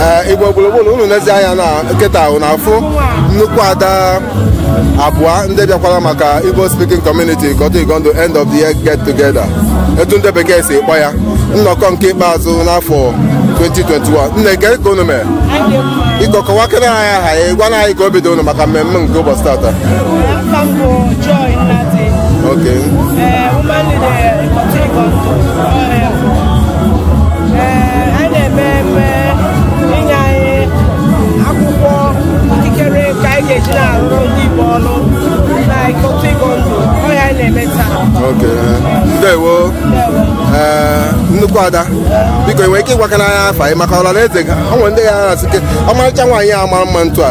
ee igbo gburugburu unu nezi anya na kịta ahụ na-afụ nnukwu ada abụọ ndị bịakwara maka igbo speaking community ikotun igando end of the year get together etu ndị bekee si kpọ ya nnọkọ nke ikpeazụ n'afọ 2021 nne kee ka unu mere biko kọwakere anyị aha ya gwa na anyị ka obi dị unu maka mmemme nke ụbọchị tata Afa m bụ Joy Nnadi, okay eh, woman leader nnukwu ada biko i nwere ike ịgwakana anyị afa gị maka ọra na eze ha o nwere ndị ya na-asị kee ọmarịcha nwaanyị a mara mma etu a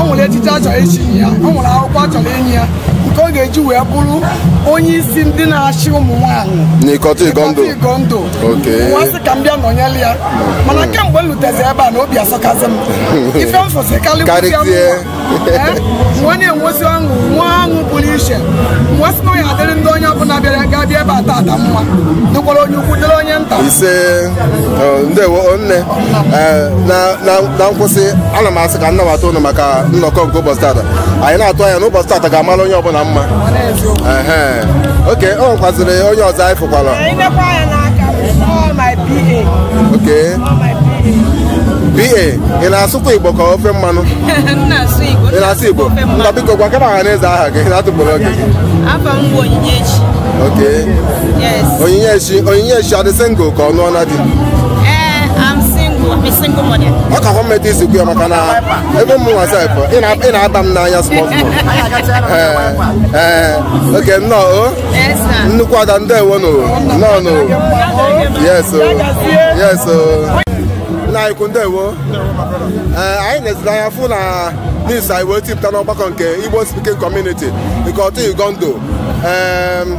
o nwere echichi a chọrọ ichi ya o nwere akwụkwọ a chọrọ inye ya nke ọ ga-eji wee bụrụ onye isi ndị na-achị ụmụ nwaanyị n'ikotun igando m wee sị ka m bịa nọnyere ya mana kemgbe m lutezi ebe a na obi asọkazi m ife m fụsị karịa m wee na-enwezi ọṅụ nwee ọṅụ pụrụ iche m wee sị na ọ ya-adịrị ndị onye ọbụla bịara ga-abịa ebe a tata mma dịkwara onye ukwu dịrị onye nta ndewo nne Eh, na nkwụsị ana m asị ka m nabata unu maka nnọkọ nke ụbọchị tata anyị na-atụ anya na ụbọchị tata ga-amara onye ọbụla mma okay o nwekwaziri onye ọzọ anyị fụkwara okay ba ị na-asụkwa igbo ka ofe mmanụ ị na-asụ igbo nna biko gwakana ọha na eze aha gị na-atụpụrụ oge gị okay onyinyechi onyinyechi ọ dị single ka ọ nụọna di ee I'm single I'm a single mother ọ ka hụ mmeta isi kwu ya maka na ebe mụ nwa sef ị na- ị na-aba m n'anya small small ee ee oke nnọọ o yes sir nnukwu ada ndewo no nnọọ no yes o yes o nna anyị ukwu ndewo ee anyị neziri anya fụ na news anyị wee tipụta n'ọgbakọ nke igbo speaking community nke ikotun igando ee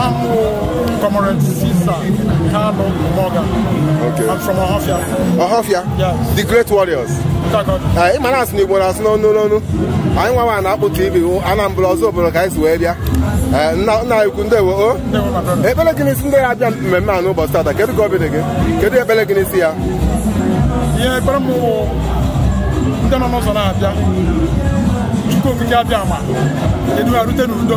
I'm Comrade Sisa Kanu Morgan. Okay. I'm from Ohafia. Ohafia? Yes. The Great Warriors. ị ma na a sị na igbo na-asụ n'onu n'onu anyị nwa nwa na-akpụ tv anambra ozubulu ka anyị si wee bịa nna anyị ukwu ndewo o ekpere gị n'isi ndị ya abịa mmemme a n'ụbọchị tata kedu ka obi dị gị kedu ekpere gị n'isi ya ihe ekpere m wụ ndị nọ n'ụzọ na-abịa chukwu okike abịama edu ha rute n'udo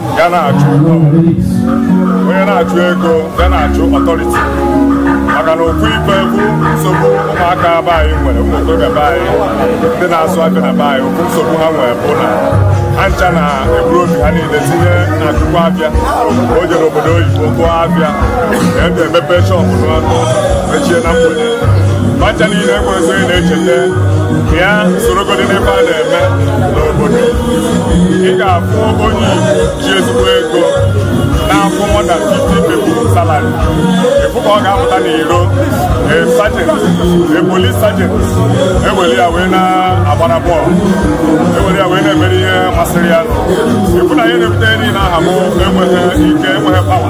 ya na-achụ ego onye na-achụ ego ya na-achụ authority maka na otu ife bụ nsogbu ụmụaka be anyị nwere ụmụ okorobịa be anyị ndị na-azụ afịa na be anyị otu nsogbu ha nwere bụ na ha ncha na-eburu obi ha niile tinye na akụkọ afịa o jere obodo oyibo tụọ afịa ebe emepe shọpụ n'ụtụtụ mechie na mgbede ha ncha niile enwerọ onye na-echeta ịga sorogodị n'ife a na-eme n'obodo ị ga-afụ onye ji ezigbo ego na-akwụ more than 50 people salary ị fụ ka ọ ga-apụta n'iro a sergeant a police sergeant ewere ya wee na-agbara bọọlụ ewere ya wee na-emere ihe masịrị ya ị fụ na ihe na-ebute niile ahụ bụ enweghị ike enweghị power